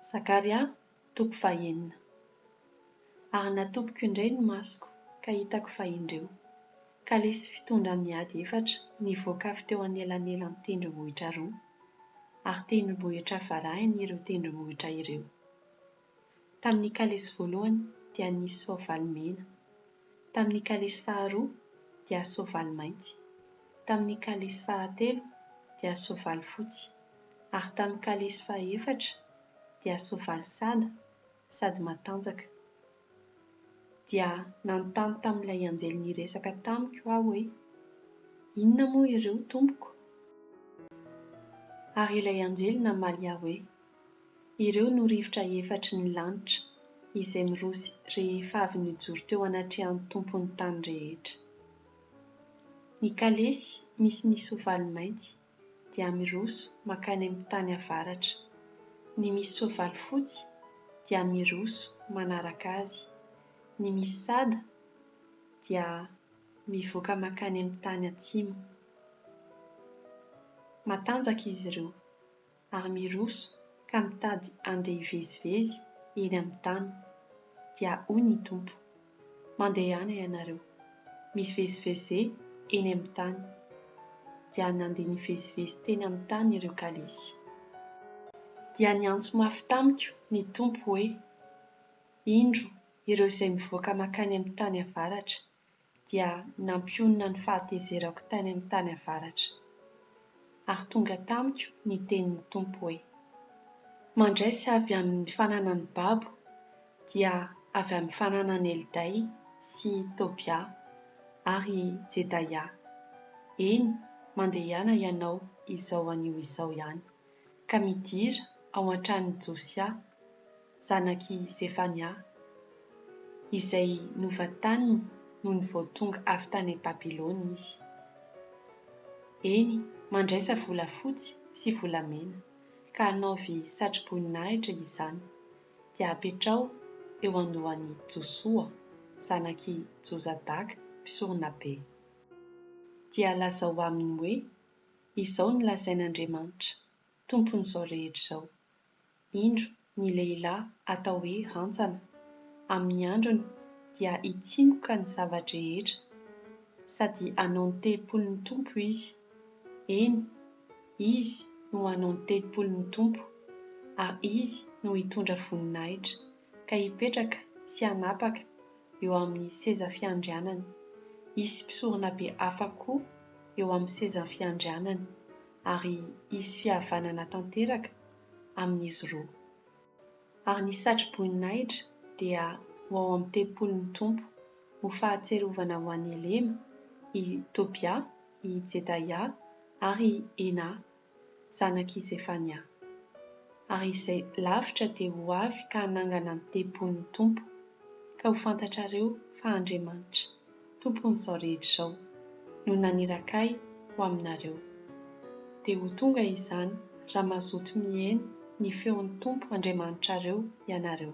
Zakaria toko fahenina. Ary natopiko indray ny masoko ka hitako fa indreo, kalesy fitondra miady efatra nivoaka avy teo anelanelan'ny tendrombohitra roa, ary tendrombohitra varahiny ireo tendrombohitra ireo. Tamin'ny kalesy voalohany dia nisy soavaly mena, tamin'ny kalesy faharoa dia soavaly mainty, tamin'ny kalesy fahatelo dia soavaly fotsy, ary tamin'ny kalesy fahaefatra dia soavaly sada sady matanjaka. Dia nanontany tamin'ilay anjely niresaka tamiko aho hoe, Inona moa ireo, tompoko? Ary ilay anjely namaly ahy hoe, Ireo no rivotra efatry ny lanitra izay miroso rehefa avy nijoro teo anatrehan'ny Tompon'ny tany rehetra. Ny kalesy misy ny soavaly mainty dia miroso mankany amin'ny tany avaratra. Ny misy soavaly fotsy dia miroso manaraka azy. Ny misy sada dia mivoaka mankany amin'ny tany atsimo. Matanjaka izy ireo. ary miroso ka mitady handeha hivezivezy eny amin'ny tany. Dia hoy ny Tompo, Mandehana ianareo, mivezivezé eny amin'ny tany. Dia nandeha nivezivezy teny amin'ny tany ireo kalesy. Dia niantso mafy tamiko ny Tompo hoe, Indro ireo izay mivoaka mankany amin'ny tany avaratra, dia nampionona ny fahatezerako tany amin'ny tany avaratra. Ary tonga tamiko ny tenin'ny Tompo hoe, Mandraisa avy amin'ny fananan'i babo, dia avy amin'ny fananan'i Elday sy Tobia ary Jedaia, eny, mandehana ianao izao anio izao ihany, ka midira ao an-tranon'i Josia, zanak'i Zefania, izay novataniny nony vao tonga avy tany Babylona izy. Eny, mandraisa volafotsy sy volamena, ka anaovy satroboninahitra izany, dia apetraho eo andohan'i Josoa, zanak'i Jozadaka, mpisoronabe. Dia lazao aminy hoe, Izao no lazain'Andriamanitra, Tompon'izao rehetra izao, indro ny lehilahy atao hoe rantsana, amin'ny androny dia hitsingoka ny zava-drehetra, sady hanao ny tempolin'ny Tompo izy, eny, izy no hanao ny tempolin'ny Tompo, ary izy no hitondra voninahitra, ka hipetraka sy hanapaka eo amin'ny seza fiandrianany, hisy mpisoronabe hafa koa eo amin'ny sezan'ny fiandrianany, ary hisy fihavanana tanteraka, amin'izy roa. Ary ny satroboninahitra dia ho ao amin'ny tempolin'ny Tompo, ho fahatsiarovana ho an'i Elema, i Tobia, i Jedaia, ary i Hena, zanak'i Zefania. Ary izay lavitra dia ho avy ka hanangana ny tempolin'ny Tompo, ka ho fantatrareo fa Andriamanitra. Tompon'izao rehetra izao, no naniraka ahy ho aminareo. Dia ho tonga izany raha mazoto miheno ny feon'ny Tompo Andriamanitrareo ianareo.